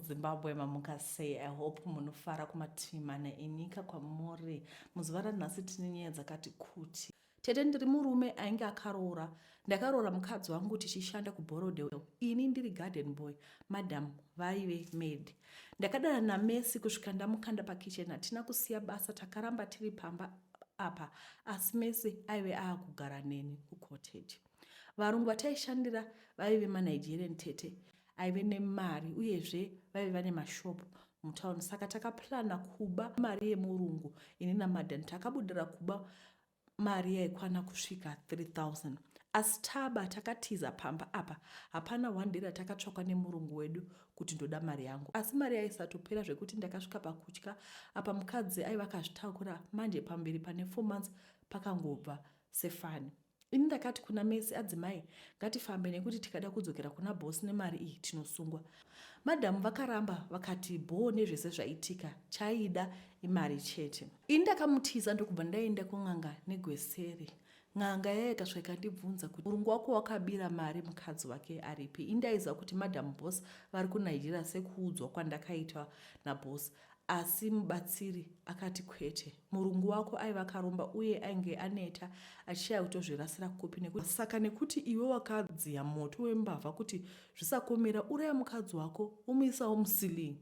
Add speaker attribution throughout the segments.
Speaker 1: Zimbabwe mamuka sei i hope munofara kumativi mana enyika kwamuri muzuva ranhasi tine nyaya dzakati kuti tete ndiri murume ainge akaroora ndakaroora mukadzi wangu tichishanda kuborodewell ini ndiri garden boy madam vaive maid ndakadana namesi kusvika ndamukanda pakitchen hatina kusiya basa takaramba tiri pamba apa asi mesi aive aakugara neni kucottage varungu vataishandira vaive manigerian tete aive nemari uyezve vaive vane mashop mutown saka takaplana kuba mari yemurungu ini namadan takabudira kuba mari yaikwana kusvika 3000 asi taba takatiza pamba apa hapana one day ratakatsvakwa nemurungu wedu kuti ndoda mari yangu asi mari yaisatopera zvekuti ndakasvika pakutya apa mukadzi aiva akazvitakura manje pamberi pane four months pakangobva sefani Ini ndakati kuna Mercy, adzimai ngatifambe nekuti tikada kudzokera kuna boss nemari iyi tinosungwa. Madam vakaramba vakati bhoo nezvese zvaitika, chaida imari chete. Ini ndakamutiza ndokubva ndaenda kun'anga negweseri. N'anga yaya ikasvika ikandibvunza kuti murungu wako wakabira mari mukadzi wake aripi. Ini ndaiziva kuti madam boss vari kuNigeria sekuudzwa kwandakaitwa naboss. Asi mubatsiri akati kwete. Murungu wako aiva akaromba uye ainge aneta achishaya kutozvirasira kupi nekuti saka nekuti iwe wakadziya moto wembavha kuti zvisakomera uraya mukadzi wako umuisawo musilii.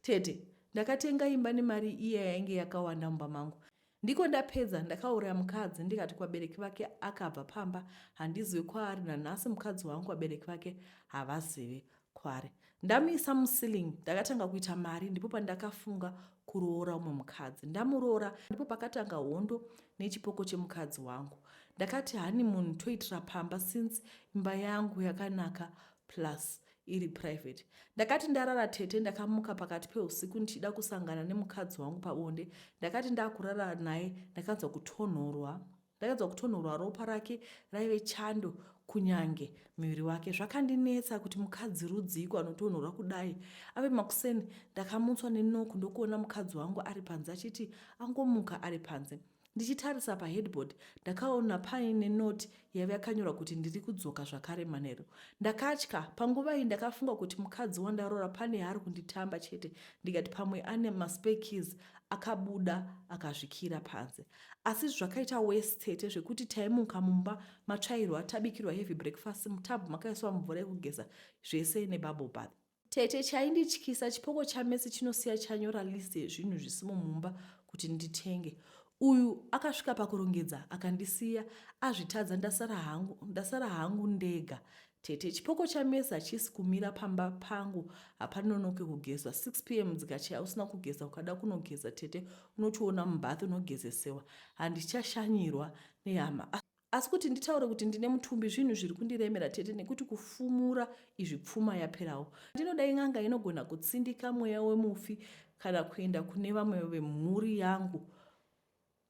Speaker 1: Tete, ndakatenga imba nemari iya yainge yakawanda mumba mangu. Ndiko ndapedza ndakauraya mukadzi ndikati kwabereki vake akabva pamba handizive kwaari nanhasi mukadzi wangu kwabereki vake havazive kwaari. Ndamuisa muceiling ndakatanga kuita mari ndipo pandakafunga kuroora umwe mukadzi. Ndamuroora ndipo pakatanga hondo nechipoko chemukadzi wangu. Ndakati honeymoon toitira pamba since imba yangu yakanaka plus iri private ndakati ndarara tete ndakamuka pakati peusiku ndichida kusangana nemukadzi wangu pabonde ndakati ndakurara naye ndakanzwa kutonhorwa ndakanzwa kutonhorwa ropa rake raive chando kunyange muviri wake zvakandinetsa kuti mukadzi rudziiko anotonhorwa kudai ave makuseni ndakamutswa nenoku ndokuona mukadzi wangu ari panze achiti angomuka ari panze Ndichitarisa paheadboard ndakaona paine note yaive yakanyorwa kuti ndiri kudzoka zvakare manheru. Ndakatya, panguva iyi ndakafunga kuti mukadzi wandaroora pane yaari kunditamba chete ndikati pamwe ane maspekis akabuda akazvikira panze. Asi zvakaita wes tete zvekuti taimuka mumba matsvairwa tabikirwa heavy breakfast mutub makaiswa mvura yekugeza zvese nebubble bath. Tete chaindityisa chipoko chamesi chinosiya chanyora list yezvinhu zvisimo mumba kuti nditenge. Uyu akasvika pakurongedza akandisiya azvitadza ndasara hangu ndasara hangu ndega. Tete chipoko chamesi hachisi kumira pamba pangu hapanonoke kugezwa 6 pm dzikachaya usina kugeza ukada kunogeza tete unochiona mumbath unogezesewa handichashanyirwa nehama. asi kuti nditaure kuti ndine mutumbi zvinhu zviri kundiremera tete nekuti kufumura izvi pfuma yaperawo ndinoda in'anga inogona kutsindika mweya wemufi kana kuenda kune vamwe vemhuri yangu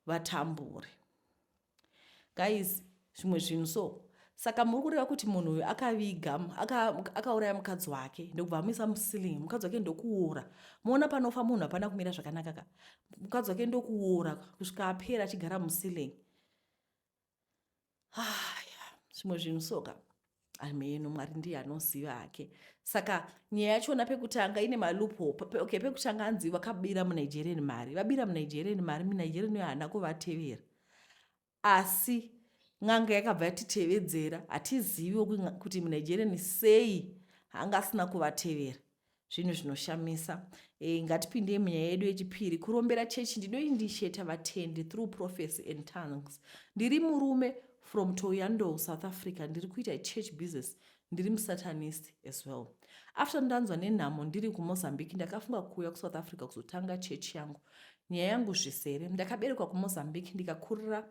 Speaker 1: vatambure guys zvimwe zvinhu so saka muri kureva kuti munhu uyu akaviga akauraya aka mukadzi wake ndokubva amuisa musiling mukadzi wake ndokuora moona panofa munhu hapana kumira zvakanaka ka mukadzi wake ndokuora kusvika apera achigara musiling haya zvimwe zvinhu soka ameno mwari ndiye anoziva hake saka nyaya yachona pekutanga ine maloophole okay pekutanga anzi vakabira munigerian mari vabira munigerian mari munigerian uyo haana kuvatevera asi n'anga yakabva yatitevedzera hatiziviwo kuti munigerian sei anga asina kuvatevera zvinhu zvinoshamisa e, ngatipindei munyaya yedu yechipiri kurombera chechi ndinoindisheta vatendi through prophecy and tongues ndiri murume from toyando south africa ndiri kuita church business ndiri musatanist as well after ndanzwa nenhamo ndiri kumozambique ndakafunga kuuya kusouth africa kuzotanga chechi yangu nyaya yangu zvisere ndakaberekwa kumozambique ndikakurira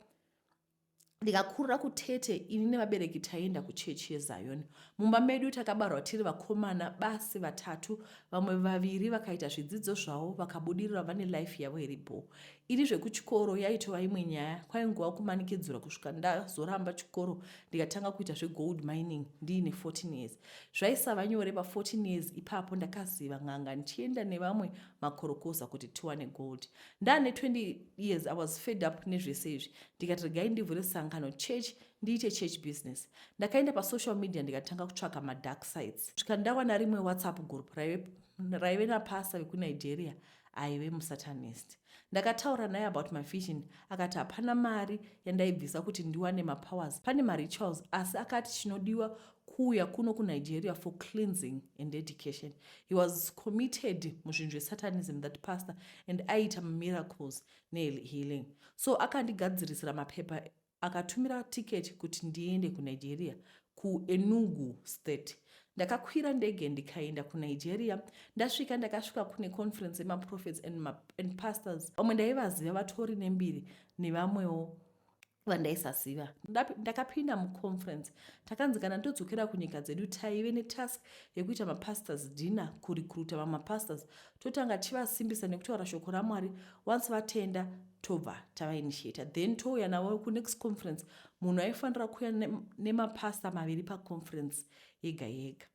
Speaker 1: ndikakurira kutete ini nevabereki taienda kuchechi yezayoni mumba medu takabarwa tiri vakomana basi vatatu vamwe vaviri vakaita zvidzidzo zvavo vakabudirira vane life yavo iri bho ini zvekuchikoro yaitova imwe nyaya kwainguva kumanikidzura kusvika ndazoramba chikoro ndikatanga kuita zvegold mining ndiine 14 years zvaisava nyore pa14 years ipapo ndakaziva n'anga ndichienda nevamwe makorokoza kuti tiwane gold ndaane 20 years i was fed up nezvese izvi ndikati regai ndivhure sangano church ndiite church business ndakaenda pasocial media ndikatanga kutsvaka madark sites svika ndawana rimwe whatsapp group raive, raive napasa vekunigeria aive musatanist ndakataura naye about my vision akati hapana mari yandaibvisa kuti ndiwane mapowers pane marituals asi akati chinodiwa kuuya kuno kunigeria for cleansing and education he was committed muzvinhu zvesatanism that pastor and aiita miracles nehealing so akandigadzirisira mapepa akatumira ticket kuti ndiende kunigeria kuenugu state ndakakwira ndege ndikaenda kunigeria ndasvika ndakasvika kune conference yemaprophets and, and pastors vamwe ndaivaziva vatori nembiri nevamwewo vandaisaziva ndakapinda muconference takanzi kana todzokera kunyika dzedu taive netask yekuita mapastors dinner kurecruta vamapastors totanga tichivasimbisa nekutaura shoko ramwari once vatenda tobva tavainitiata then touya navo kunext conference munhu aifanira kuuya nemapasta maviri paconference yega yega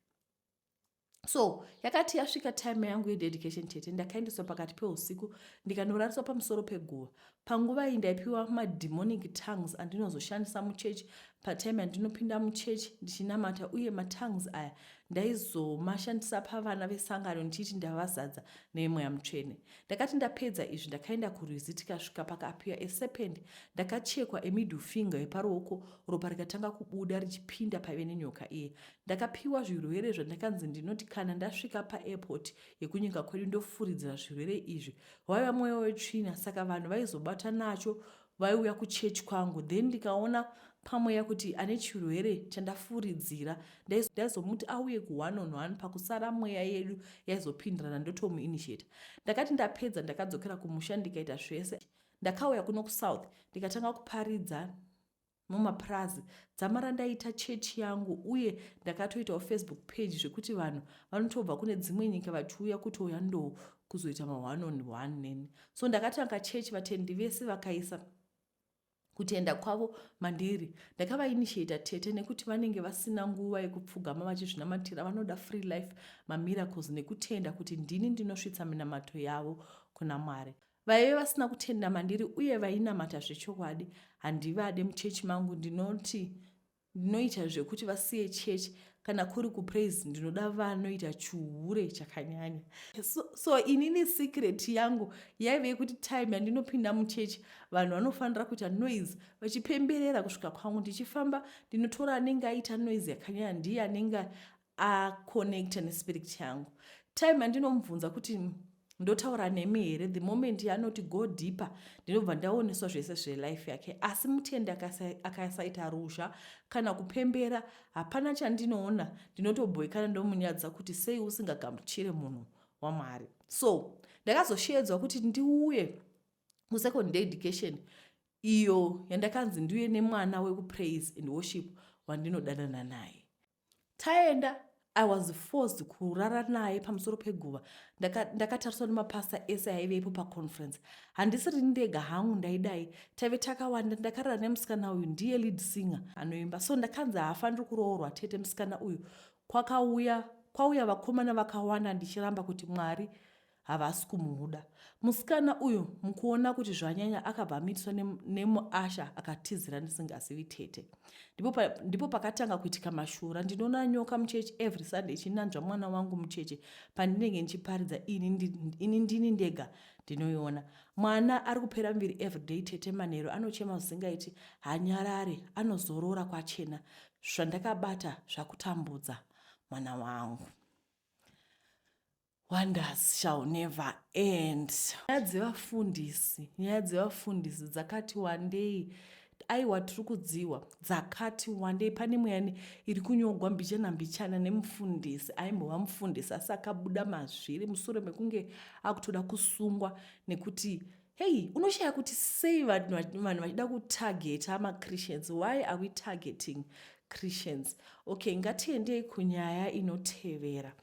Speaker 1: so yakati yasvika time yangu yededication chete ndakaendeswa pakati peusiku ndikanorariswa pamusoro peguva panguva iyi ndaipiwa mademonic tongues andinozoshandisa muchechi patime yandinopinda muchechi ndichinamata uye matongues aya ndaizomashandisa pavana vesangano ndichiti ndavazadza nemweya mutsvene ndakati ndapedza izvi ndakaenda kurwizi tikasvika pakapiwa eserpend ndakachekwa emiddle finger yeparuoko ropa rikatanga kubuda richipinda paive nenyoka iye Ndakapiwa zvirwere zvandakanzi ndinoti kana ndasvika paairport yekunyika kwedu ndofuridzira zvirwere izvi. Waiva mweya wetsvina saka vanhu vaizobata nacho vaiuya kuchechi kwangu then ndikaona pamweya kuti ane chirwere chandafuridzira ndaizomuti auye kuone on one pakusara mweya yedu yaizopindirana ndotomuinitiata ndakati ndapedza ndakadzokera kumusha ndikaita zvese ndakauya kuno kusouth ndikatanga kuparidza mumapurazi dzamara ndaita chechi yangu uye ndakatoitawo facebook page zvekuti vanhu vanotobva kune dzimwe nyika vachiuya kutouya ndo kuzoita ma1 on 1 neni so ndakatanga chechi vatendi vese vakaisa kutenda kwavo mandiri ndakavainitiata tete nekuti vanenge vasina nguva yekupfugama vachizvinamatira vanoda free life mamiracles nekutenda kuti ndini ndinosvitsa minamato yavo kuna mwari vaive vasina kutenda mandiri uye vainamata zvechokwadi handivade muchechi mangu ndinoti ndinoita zvekuti vasiye chechi kana kuri kupraise ndinoda vanoita chihure chakanyanya so, so inini secret yangu yaive yekuti time yandinopinda muchechi vanhu vanofanira kuita noise vachipemberera kusvika kwangu ndichifamba ndinotora anenge aita noise yakanyanya ndiye anenge aconnecta nespirit changu time andinomubvunza kuti ndotaura nemi here the moment yaanoti go deeper ndinobva ndaoneswa zvese zvelife yake asi mutende akasaita ruzha kana kupembera hapana chandinoona ndinotobhoikana ndomunyadza kuti sei usingagamuchire munhu wamwari so ndakazosheedzwa kuti ndiuye kusecond day education iyo yandakanzi ndiuye nemwana wekupraise and worship wandinodanana naye taenda i was forced kurara naye pamusoro peguva ndakatariswa nemapasta ese aive ipo paconference handisiri ndega hangu ndaidai taive takawanda ndakarara nemusikana uyu ndiye lead singer anoimba so ndakanzi haafaniri kuroorwa tete musikana uyu kwakauya kwauya vakomana vakawanda ndichiramba kuti mwari havasi kumuda musikana uyo mukuona kuti zvanyanya akabva amitiswa nemuasha akatizira ndisingazivi tete ndipo, pa, ndipo pakatanga kuitika mashura ndinoona nyoka muchechi every sunday ichinanzva mwana wangu mucheche pandinenge ndichiparidza ini, ndi, ini ndini ndega ndinoiona mwana ari kupera muviri everyday tete manheru anochema zvisingaiti hanyarare anozorora kwachena zvandakabata zvakutambudza mwana wangu wonders shall never end nyaya dzevafundisi nyaya dzevafundisi dzakati wandei aiwa tiri kudziwa dzakati wandei pane muyani iri kunyogwa mbichana mbichana nemufundisi aimbova mufundisi asi akabuda mazviri musure mekunge akutoda kusungwa nekuti hei unoshaya kuti sei vanhu vachida kutargeta machristians why are we targeting christians okay ngatiendei kunyaya inotevera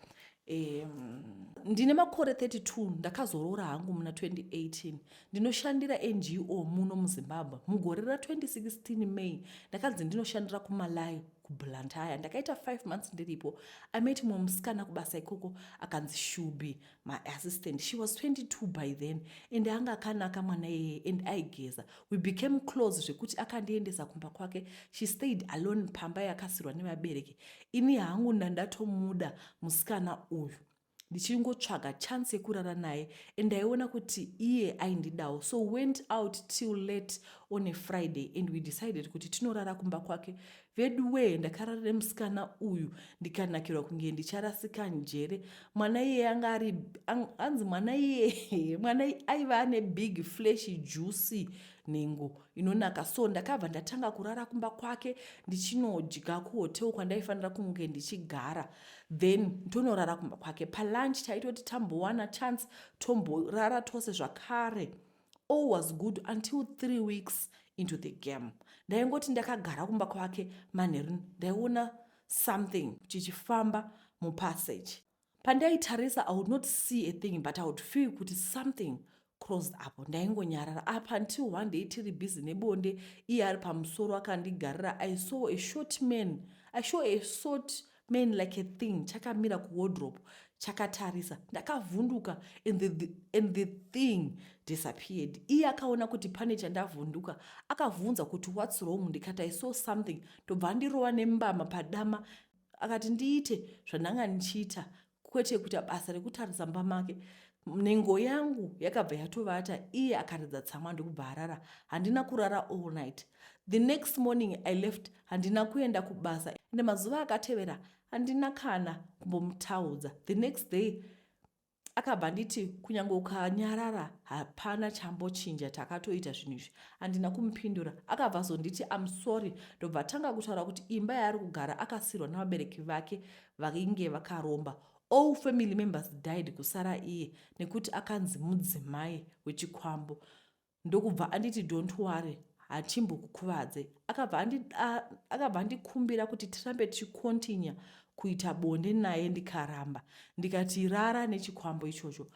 Speaker 1: um, ndine makore 32 ndakazoroora hangu muna 2018 ndinoshandira ngo muno muzimbabwe mugore ra2016 may ndakanzi ndinoshandira kumalai kublantyre ndakaita 5 months ndiripo amet mumwe musikana kubasa ikoko akanzi shubi my assistant she was 22 by then and anga akanaka mwana iyeye and aigeza we became close zvekuti akandiendesa kumba kwake she stayed alone pamba yakasirwa nevabereki ini hangu ndandatomuda musikana uyu ndichingotsvaga chance yekurara naye and ndaiona kuti iye aindidawo so went out till late on a friday and we decided kuti tinorara kumba kwake Veduwee ndakarara nemusikana uyu ndikanakirwa kunge ndicharasika njere. Mwana iyeye anga ari hanzi mwana iyeye mwana aiva ane big flesh juicy nhengo inonaka so ndakabva ndatanga kurara kumba kwake ndichinodya kuhotel kwandaifanira kunge ndichigara then tonorara kumba kwake palunch taitoti tambowana chance tomborara tose zvakare all was good until three weeks into the game ndaingoti ndakagara kumba kwake manheru ndaiona something chichifamba mupassage pandaitarisa i would not see a thing but i would feel kuti something crossed apo ndaingonyarara apa until one day tiri busy nebonde iye ari pamusoro akandigarira i saw a short man i saw a short man like a thing chakamira kuwardrop chakatarisa ndakavhunduka and the, the, and the thing disappeared iye akaona kuti pane chandavhunduka akavhunza kuti whats wrong ndikati i saw something ndobva andirova nembama padama akati ndiite zvandanga ndichiita kwete kuita basa rekutarisa mumba make nhengo yangu yakabva yatovata iye akaridza tsamwa ndokubva arara handina kurara all night the next morning i left handina kuenda kubasa ende mazuva akatevera handina kana kumbomutaudza the next day akabva nditi kunyange ukanyarara hapana chambochinja takatoita zvinhu izvi handina kumupindura akabva azonditi am sorry ndobva atanga kutaura kuti imba yaari kugara akasirwa nevabereki vake vainge vakaromba all family members died kusara iye nekuti akanzi mudzimai wechikwambo ndokubva anditi don't worry hachimbokukuvadze akabva andikumbira kuti tirambe tichikontinya kuita bonde naye ndikaramba ndikati rara nechikwambo ichocho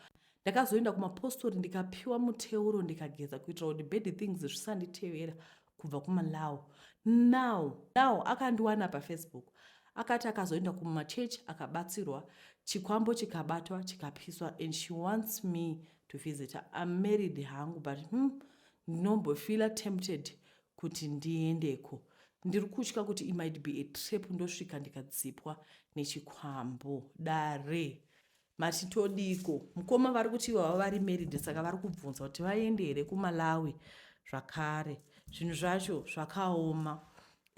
Speaker 1: ndakazoenda kumapostori ndikapiwa muteuro ndikageza kuitira kuti bad things zvisanditevera kubva kumalaw now now akandiwana pafacebook akati akazoenda kumachurch akabatsirwa chikwambo chikabatwa chikapiswa and she wants me to visit am married hangu but hmm, ndinombofeela tempted kuti ndiendeko ndiri kutya kuti imight be a trap ndosvika ndikadzipwa nechikwambo dare Mati todiko mukoma vari kuti ivo vava vari married saka vari kubvunza kuti vaende here kumalawi zvakare zvinhu zvacho zvakaoma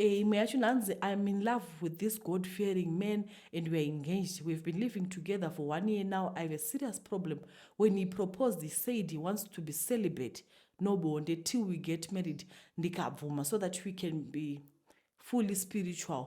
Speaker 1: Eh, imwe yacho nanzi im in love with this god fearing man and weare engaged weave been living together for one year now i have a serious problem when he proposed he said he wants to be celibate no bonde till we get married ndikabvuma so that we can be fully spiritual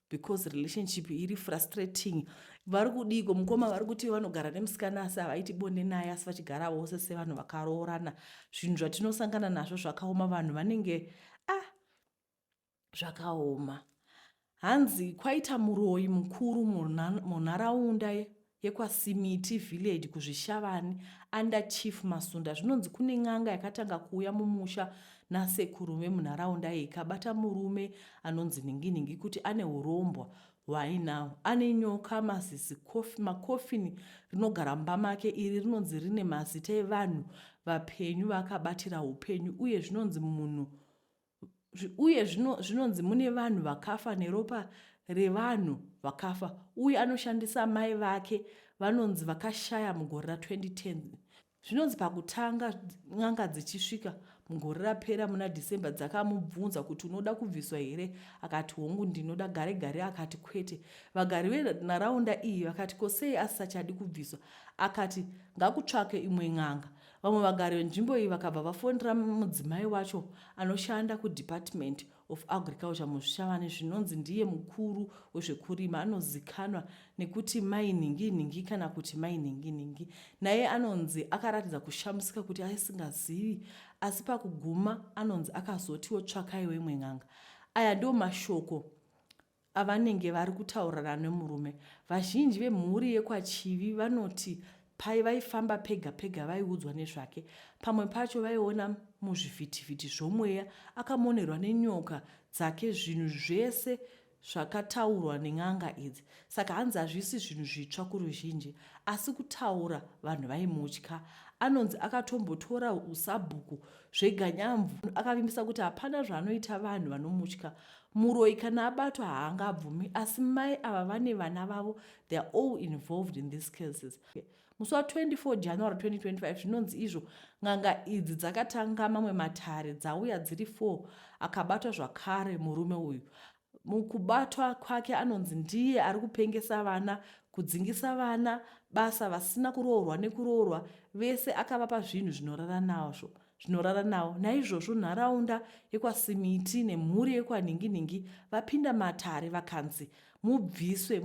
Speaker 1: because relationship iri frustrating vari kudiiko mukoma vari kuti vanogara nemusikana asi havaiti bonde naye asi vachigara vose sevanhu vakaroorana zvinhu zvatinosangana nazvo zvakaoma vanhu vanenge a ah, zvakaoma hanzi kwaita muroyi mukuru munharaunda yekwaSimiti Village kuZvishavani under Chief Masunda zvinonzi kune n'anga yakatanga kuuya mumusha nasekuru vemunharaunda iyi ikabata murume anonzi nhinginhingi kuti ane urombwa hwainawo ane nyoka mazizi makofini rinogara mumba make iri rinonzi rine mazita evanhu vapenyu vakabatira upenyu uye zvinonzi munhu uye zvinonzi mune vanhu vakafa neropa revanhu vakafa uye anoshandisa mai vake vanonzi vakashaya mugore ra2010 zvinonzi pakutanga n'anga dzichisvika mugore rapera muna december dzakamubvunza kuti unoda kubviswa here akati hongu ndinoda gare gare akati kwete vagari venharaunda iyi vakati ko sei asisachadi kubviswa akati ngakutsvake imwe n'anga Vamwe vagari venzvimbo iyi vakabva vafonera mudzimai wacho anoshanda kuDepartment of Agriculture muZvishavane zvinonzi ndiye mukuru wezvekurima anozikanwa nekuti Mai Nhinginhingi kana kuti Mai Nhinginhingi. Naye anonzi akaratidza kushamisika kuti aisingazivi asi pakuguma anonzi akazotiwo tsvakaiwo imwe n'anga. Aya ndiwo mashoko avanenge vari kutaurirana nemurume. Vazhinji vemhuri yekwaChivi vanoti pai vaifamba pega pega vaiudzwa nezvake. Pamwe pacho vaiona muzvivhitivhiti zvomweya akamonerwa nenyoka dzake zvinhu zvese zvakataurwa nen'anga idzi saka hanzi hazvisi zvinhu zvitsva kuruzhinji asi kutaura vanhu vaimutya anonzi akatombotora usabhuku zveganyamvu akavimbisa kuti hapana zvaanoita vanhu vanomutya Muroyi kana abatwa haanga abvumi asi mai ava vane vana vavo they are all involved in these cases. Musi wa 24 January 2025 zvinonzi izvo n'anga idzi dzakatanga mamwe matare dzauya dziri 4 akabatwa zvakare murume uyu. Mukubatwa kwake anonzi ndiye ari kupengesa vana, kudzingisa vana basa vasina kuroorwa nekuroorwa vese akavapa zvinhu zvinorara nazvo. zvinorara nawo naizvozvo nharaunda yekwasimiti nemhuri yekwanhinginhingi vapinda matare vakanzi mubviswe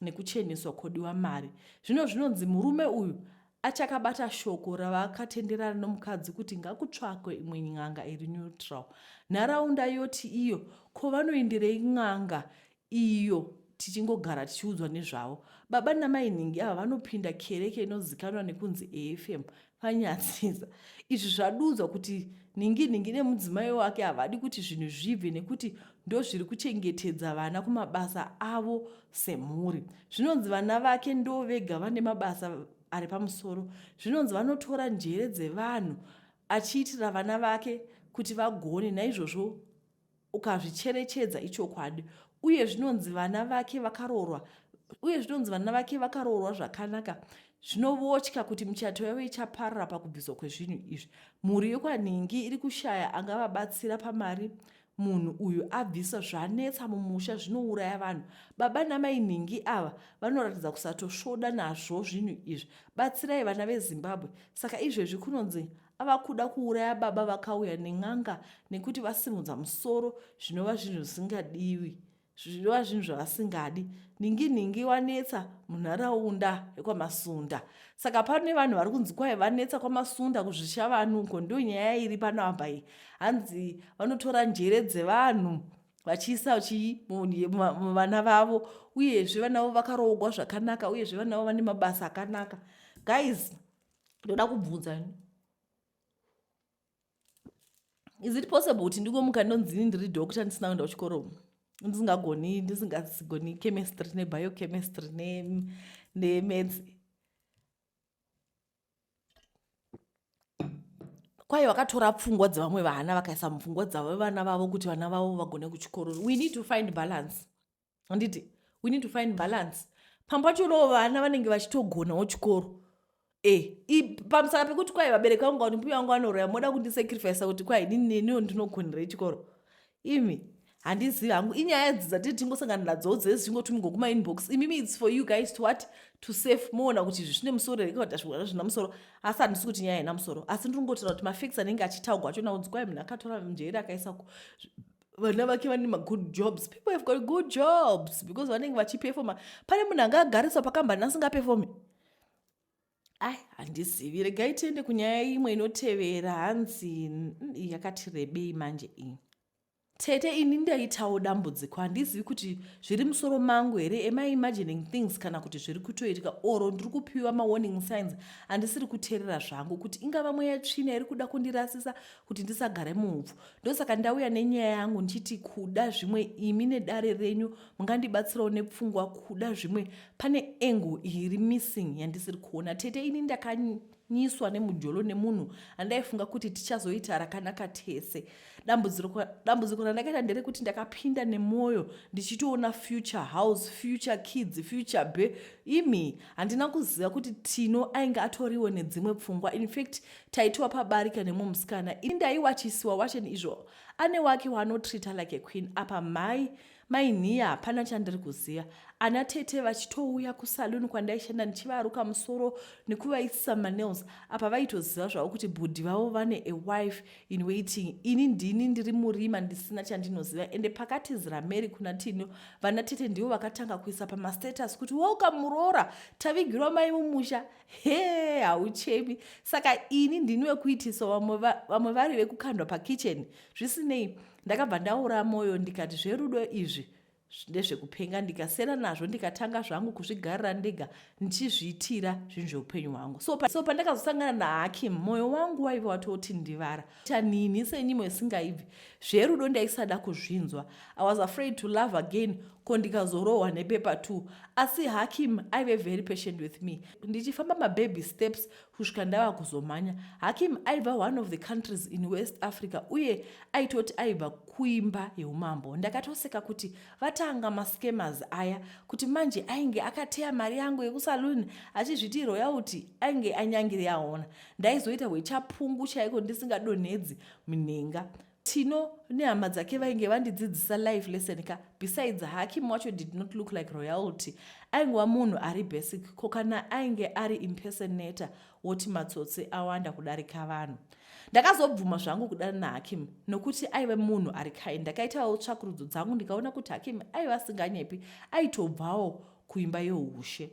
Speaker 1: nekucheneswa kodiwa mari zvino zvinonzi murume uyu achakabata shoko ravakatenderana nomukadzi kuti ngakutsvakwe imwe n'anga iri neutral nharaunda yoti iyo ko vanoenderei n'anga iyo tichingogara tichiudzwa nezvavo. Baba namainhingi ava vanopinda kereke inozikanwa nekunzi AFM paNyatsisa. Izvi zvadudzwa kuti nhinginhingi nemudzimai wake havadi kuti zvinhu zvibve nekuti ndozviri kuchengetedza vana kumabasa avo semhuri. Zvinonzi vana vake ndovega vane mabasa ari pamusoro. Zvinonzi vanotora njere dzevanhu achiitira vana vake kuti vagone naizvozvo ukazvicherechedza ichokwadi uye zvinonzi vana vake vakaroorwa uye zvinonzi vana vake vakaroorwa zvakanaka zvinovotya kuti michato yavo ichaparara pakubviswa kwezvinhu izvi mhuri yekwanhingi iri kushaya angavabatsira pamari munhu uyu abvisa zvanetsa mumusha zvinouraya vanhu baba namai nhingi ava vanoratidza kusatosvoda nazvo zvinhu izvi batsirai vana vezimbabwe saka izvezvi kunonzi ava kuda kuuraya baba vakauya nen'anga nekuti vasimudza musoro zvinova zvinhu zvisingadiwi zvinova zvinhu zvavasingadi nhingi nhingi wanetsa munharaunda yekwamasunda saka pano nevanhu vari kunzi kwai vanetsa kwamasunda kuzvisha vanhu uko ndo nyaya iri pano apa iyi hanzi vanotora njere dzevanhu vachiisa chii muvana vavo uyezve vanavo vakaroogwa zvakanaka uyezve vanavo vane mabasa akanaka guys ndoda kubvunza ini is it possible kuti ndingomuka ndonzini ndiri doctor ndisina kuenda kuchikoro ndisingagoni ndisingagoni chemistry nebiochemistry nemeds kwaye vakatora pfungwa dzevamwe vana vakaisa mupfungwa dzavo vana vavo kuti vana vavo vagone kuchikoro we need to find balance handiti we need to find balance pamwe pacho loo vana vanenge vachitogonawo chikoro e eh, pamusaka pekuti kwai vabereki vangu kuti mbuya vangu vanoroya moda kundisacrifica kuti kwai niniwo ndinogonera chikoro imi handizivi hangu inyaya dzi dzatiri tingosangana nadzowo dzese zvingotumi gokuma inbox imimi its for you guys to what to safe moona kuti izvi zvine musoro here kavati zvigona zvina musoro asi handisi kuti nyaya haina musoro asi ndiri kungotira kuti mafix anenge achitaugwa acho naunzi kwai munhu akatora mjeri akaisa vana vake vane magood jobs people have got good jobs because vanenge vachipefoma pane munhu anga agariswa pakambani asingapefome ai handizivi regai tiende kunyaya imwe inotevera hanzi yakati rebei manje iyi tete ini ndaitawo dambudziko handizivi kuti zviri musoro mangu here am i imagining things kana kuti zviri kutoitika oro ndiri kupiwa mawarning signs andisiri kuteerera zvangu kuti ingava mweya tsvina iri kuda kundirasisa kuti ndisagare muupfu ndosaka ndauya nenyaya yangu ndichiti kuda zvimwe imi nedare renyu mungandibatsirawo nepfungwa kuda zvimwe pane engo iri missing yandisiri kuona tete ini ndakanyiswa nemujolo nemunhu andaifunga kuti tichazoita rakanaka tese dambudziko randakaita nderekuti ndakapinda nemwoyo ndichitoona future house future kids future be imi handina kuziva kuti tino ainge atoriwo nedzimwe pfungwa infact taitwa pabarika nemwe musikana ini ndaiwachisiwa wachen izvo ane wake waanotrita like aqueen apa mhai mainhiya hapana chandiri kuziva ana tete vachitouya kusaluni kwandaishanda ndichivaruka musoro nekuvaisisa manails apa vaitoziva zvavo kuti bhudhi vavo vane a wife in waiting ini ndini ndiri murima ndisina chandinoziva ende pakatizira mary kuna tino vana tete ndivo vakatanga kuisa pamastatus kuti welcome muroora tavigirwa mai mumusha hee hauchemi saka ini ndini wekuitiswa vamwe va, vari vekukandwa pakitchen zvisinei ndakabva ndaura mwoyo ndikati zverudo izvi ndezvekupenga ndikasera nazvo ndikatanga zvangu kuzvigarira ndega ndichizviitira zvinhu zveupenyu hwangu so, so pandakazosangana nahakim mwoyo wangu waive watoti ndivara chanini senyimo isingaibvi zverudo ndaisada kuzvinzwa i was afraid to love again ko ndikazorohwa nepepa two asi hakim aive very patient with me ndichifamba mababy steps kusvika ndava kuzomhanya hakim aiva one of the countries in west africa uye aitoti aibva kuimba yeumambo ndakatoseka kuti vatanga mascamas aya kuti manje ainge akateya mari yangu yekusaloon achizviti royalty ainge anyangiri yaona ndaizoita hwechapungu chaiko ndisingadonhedzi minhenga tino nehama dzake vainge vandidzidzisa life lesson ka besides hakim wacho did not look like royalty aingova munhu ari basic ko kana ainge ari impersonator woti matsotsi awanda kudarika vanhu ndakazobvuma zvangu kudana nahakim nokuti aive munhu ari kai ndakaitawo tsvakurudzo dzangu ndikaona kuti hakim aiva asinganyepi aitobvawo kuimba youshe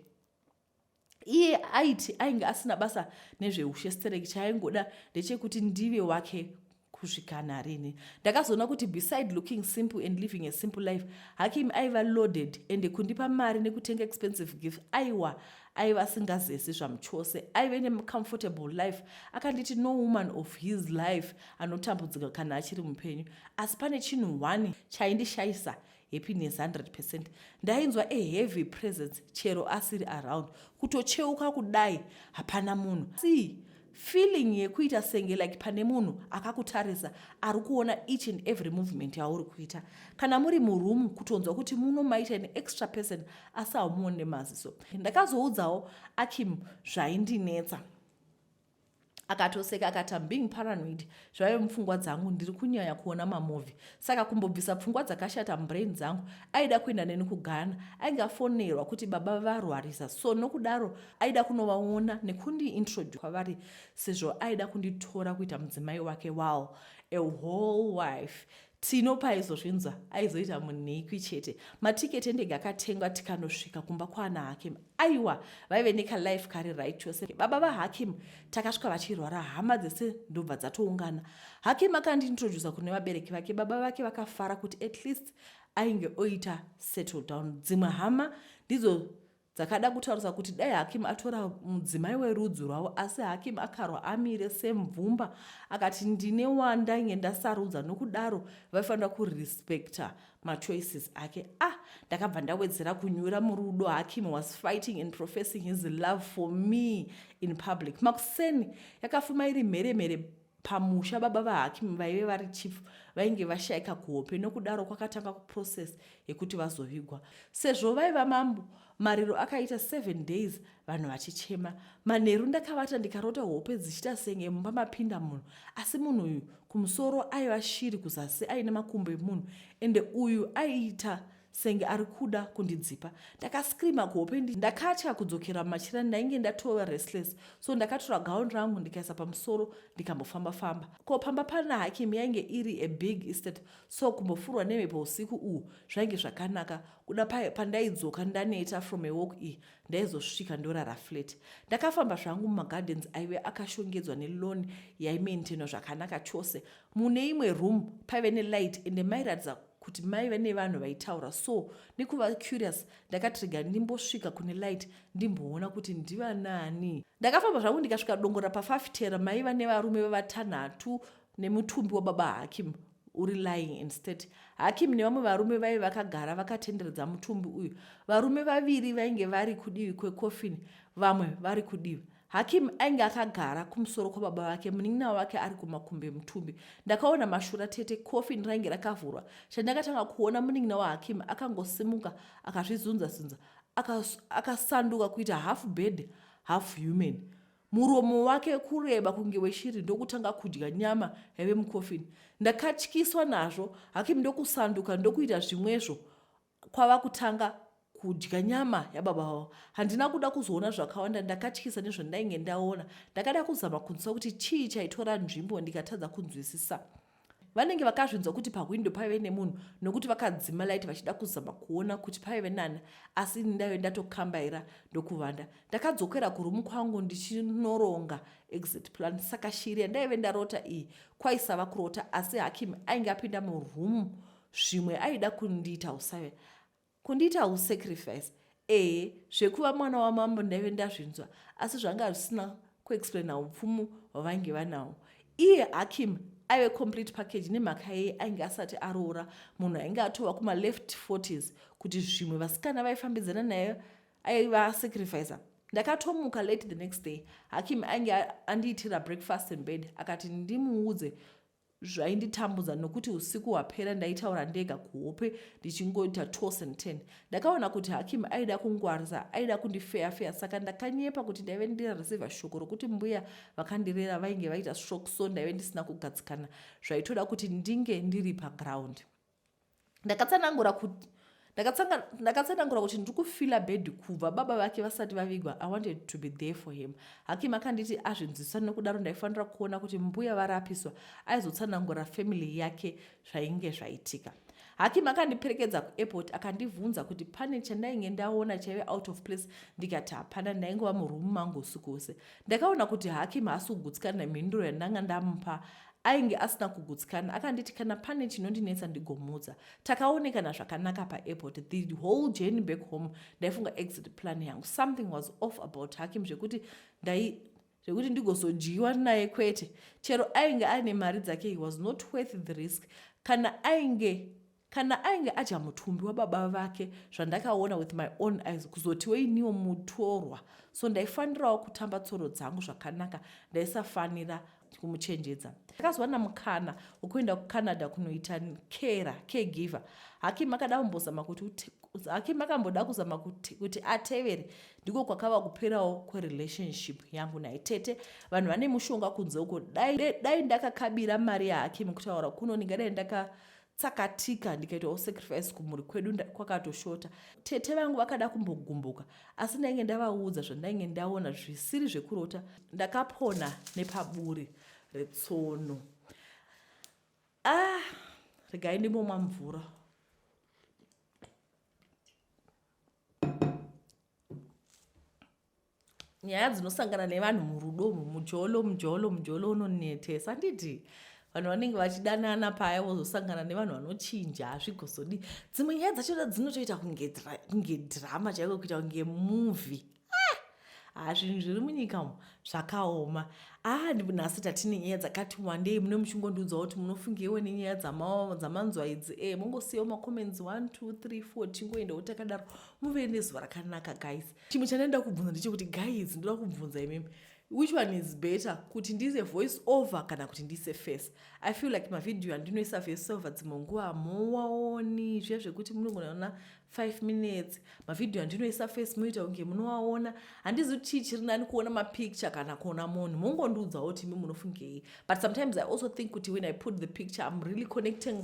Speaker 1: iye aiti ainge asina basa nezveushe stereki chaaingoda ndechekuti ndive wake kusvika narini ndakazoona kuti beside looking simple and living a simple life hakim aiva loaded ende kundipa mari nekutenga expensive gift aiwa aiva asingazesi zvamuchose aive necomfortable life akanditi no woman of his life anotambudzika kana achiri mupenyu asi pane chinhu one chaindishayisa happiness 100 percent ndainzwa a heavy presence chero asiri around kutocheuka kudai hapana munhu si feeling yekuita senge like pane munhu akakutarisa ari kuona each and every movement yauri kuita kana muri muroom kutonzwa kuti muno maita an extra person asi haumuone maziso ndakazoudzawo akim zvaindinetsa akatoseka akati am being paranoid zvaive mupfungwa dzangu ndiri kunyaya kuona mamovhi saka kumbobvisa pfungwa dzakashata mubrain dzangu aida kuenda neni kugana ainge afonerwa kuti baba varwarisa so nokudaro aida kunovaona nekundiintroduce kwavari sezvo aida kunditora kuita mudzimai wake wall a whole wife Tino paaizozvinzwa aizoita munhikwi chete. Matiketi endege akatengwa tikanosvika kumba kwaana Hakim. Aiwa, vaive nekalife kari right chose. Baba vaHakim takasvika vachirwara, hama dzese ndobva dzatoungana. Hakim akandintrodusa kune vabereki vake. Baba vake vakafara kuti at least ainge oita settle down. Dzimwe hama ndidzo Dzakada kutaurisa kuti dai Hakim atora mudzimai werudzi rwavo asi Hakim akarwa amire semvumba akati ndine wandainge ndasarudza nokudaro vaifanira kurespecta machoices ake. Ah, ndakabva ndawedzera kunyura murudo Hakim was fighting and professing his love for me in public. Makuseni yakafuma iri mhere mhere pamusha baba vahakim vaive vari chief vainge vashaika kuhope nokudaro kwakatanga kuprocess yekuti vazovigwa sezvo vaiva mambo mariro akaita seven days vanhu vachichema manheru ndakavata ndikarota hope dzichita senge mumba mapinda munhu asi munhu uyu kumusoro aiva shiri kuzasi aine makumbo emunhu ende uyu aiita senge ari kuda kundidzipa ndakascreama kuhope ndi ndakatya kudzokera mumachira ndainge ndatova restless so ndakatora gown rangu ndikaisa pamusoro ndikambofamba famba ko pamba pana hakim yainge iri a big estate so kumbofurwa nemhepo usiku uhu zvainge zvakanaka kuda paye pandaidzoka ndaneta from a walk iyi ndaizosvika ndorara flat ndakafamba zvangu mumagardens aive akashongedzwa nelon yaimaintainwa zvakanaka chose mune imwe room paive nelight ende mairatidza kuti maive nevanhu vaitaura so nekuva curious ndakati rega ndimbosvika kune light ndimboona kuti ndivanani ndakafamba zvangu ndikasvika dongora pafafitera maiva nevarume vevatanhatu nemutumbi wababa hakim uri lying in state hakim nevamwe varume vaive vakagara vakatenderedza mutumbi uyu varume vaviri vainge vari kudivi kwecoffin vamwe vari kudivi Hakim ainge akagara kumusoro kwababa vake, munin'ina wake ari kumakumbo emutumbi. Ndakaona mashura tete, coffin rainge rakavhurwa. Chandakatanga kuona munin'ina waHakim akangosimuka akazvizunza zunza, akasanduka aka kuita half bird half human. Muromo wake kureba kunge weshiri ndokutanga kudya nyama yaive mucoffin. Ndakatyiswa nazvo, Hakim ndokusanduka ndokuita zvimwezvo kwava kutanga kudya nyama yababa vavo handina kuda kuzoona zvakawanda ndakatyisa nezvandainge ndaona ndakada kuzama kunzwa kuti chii chaitora nzvimbo ndikatadza kunzwisisa vanenge vakazvinzwa kuti pahwindo paive nemunhu nokuti vakadzima light vachida kuzama kuona kuti paive nani asi ini ndaive ndatokambaira ndokuvanda ndakadzokera kurumu kwangu ndichinoronga exit plan saka shiri yandaive ndarota iyi kwaisava kurota asi hakim ainge apinda murumu zvimwe aida kundiita usave kundiita usacrifice ee zvekuva mwana wamambo ndaive ndazvinzwa asi zvanga zvisina kuexplaina upfumu hwavange vanawo iye hakim aive complete package nemhaka yeye ainge asati aroora munhu ainge atova kumaleft 40s kuti zvimwe vasikana vaifambidzana naye aiva sacrificer ndakatomuka late the next day hakim ainge andiitira breakfast in bed akati ndimuudze zvainditambudza nokuti usiku hwapera ndaitaura ndega kuhope ndichingoita toss and ten ndakaona kuti hakim aida kungwarisa aida kundifeya feya saka ndakanyepa kuti ndaive ndirarisiva shoko rokuti mbuya vakandirera vainge vaita stroke so ndaive ndisina kugadzikana zvaitoda kuti ndinge ndiri paground ndakatsanangura kuti ndakatsanangura kuti ndiri kufila bed kubva baba vake vasati vavigwa i wanted to be there for him hakim akanditi azvinzwisisa nokudaro ndaifanira kuona kuti mbuya varapiswa aizotsanangura family yake zvainge zvaitika hakim akandiperekedza kuairport akandibvunza kuti pane chandainge ndaona chaive out of place ndikati hapana ndaingova murumu mangu usiku hwese ndakaona kuti hakim haasi kugutsikana nemhinduro yandanga ndamupa Ainge asina kugutsikana akanditi kana pane chinondinetsa ndigomuudza. Takaonekana zvakanaka paairport the whole journey back home ndaifunga exit plan yangu something was off about Hakim zvekuti ndai zvekuti ndigozodyiwa naye kwete chero ainge aine mari dzake he was not worth the risk kana ainge Kana ainge adya mutumbi wababa vake zvandakaona with my own eyes kuzotiwo iniwo mutorwa so ndaifanirawo kutamba tsoro dzangu zvakanaka ndaisafanira kumuchenjedza ndakazowana mukana wekuenda kucanada kunoita kera caregiver haki makada kumbozama kuti haki makamboda kuzama kuti, kuti atevere ndiko kwakava kuperawo kwerelationship yangu naye tete vanhu vane mushonga kunze uko dai, dai ndakakabira mari yahakim kutaura kuno ndingadai ndaka tsakatika ndikaitawo sacrifice kumhuri kwedu kwakatoshota tete vangu vakada kumbogumbuka asi ndainge ndavaudza zvandainge ndaona zvisiri zvekurota ndakapona nepaburi retsono ah regai ndimbomwa mvura nyaya dzinosangana nevanhu murudo umu mujolo mujolo mujolo unonetesa anditi vanhu vanenge vachidanana paya vozosangana nevanhu vanochinja hazvigozodi dzimwe nyaya dzachona dzinotoita kunge drama chaiko kuita kunge movie ah, zvinhu zviri munyika umu zvakaoma aa ah, nhasi tatine nyaya dzakati wandei mune muchingondiudzawo kuti munofungeiwe nenyaya dzamanzwa idzi e mongosiyawo macomments 1 2 3 4 tingoendawo takadaro muve nezuva rakanaka guys chimwe chandaida kubvunza ndechekuti guys ndoda kubvunza imimi which one is better kuti ndiise voice over kana kuti ndiise face i feel like mavhidhiyo andinoisa voice over dzimwe nguva hamuwaoni zviya zvekuti munongonaona five minutes mavhidhiyo andinoisa face muita kunge munowaona handizi kuti chii chiri nani kuona mapicture kana kuona munhu mongondiudzawo kuti imi munofungei but sometimes i also think kuti when i put the picture im really connecting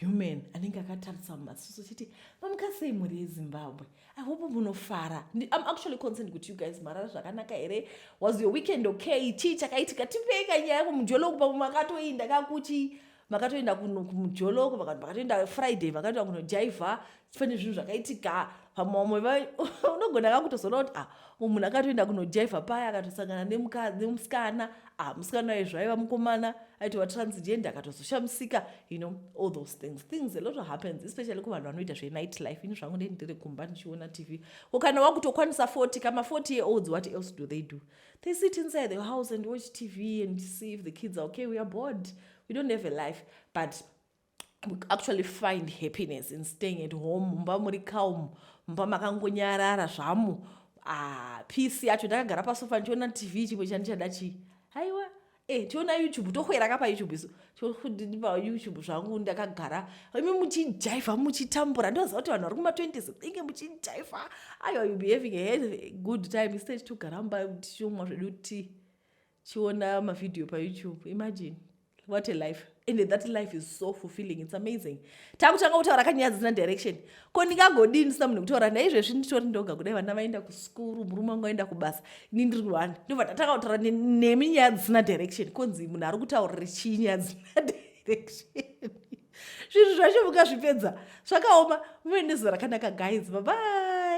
Speaker 1: human anenge akatarisa mumaziso chiti mamuka sei mhuri yezimbabwe i hope munofara i'm actually concerned kuti you guys marara zvakanaka here was your weekend okay chii chakaitika tipei kanyaya yako mujoloku pamwe makatoinda kakuchii makatoenda kumujoloko makatoenda friday makatoenda kunojaivha pane zvinhu zvakaitika pamamwe unogona ka kutozoona kuti ah mumwe munhu akatoenda kunojaiva paya akatosangana nemusikana ah musikana waye zvaiva mukomana aitova transgender akatozoshamisika you know all those things things a lot of happens especially kuvanhu vanoita zvenight life ini zvangu ndei ndiri kumba ndichiona tv ko kana wakutokwanisa 40 kama 40 year olds what else do they do they sit inside the house and watch tv and see if the kids are okay we are bored we don't have a life but we actually find happiness in staying at home mumba muri calm mumba makangonyarara zvamo ah, peace yacho ndakagara pasofa ndichiona tv chimwe chandichada chii haiwa Eh, tiona youtube tohwera ka payoutube isu todii payoutube zvangu ndakagara imi muchijaifa muchitambura ndoziva kuti vanhu vari kuma20s inge muchijaifa ayo you be having a good time instead togara mumba tichomwa zvedu tea chiona mavhidhiyo payoutube imagine what a life and that life is so fulfilling its amazing takutanga kutaura kanyaya dzisina direction ko ndingagodii ndisina munhu kutaura naye izvezvi nditori ndoga kudai vana vaenda kuskuru murume wangu aenda kubasa ini ndiri wani ndobva tatanga kutaura nemi nyaya dzisina direction konzi munhu ari kutaurira chii nyaya dzisina direction zvinhu zvacho mukazvipedza zvakaoma muve nezuva rakanaka guys babai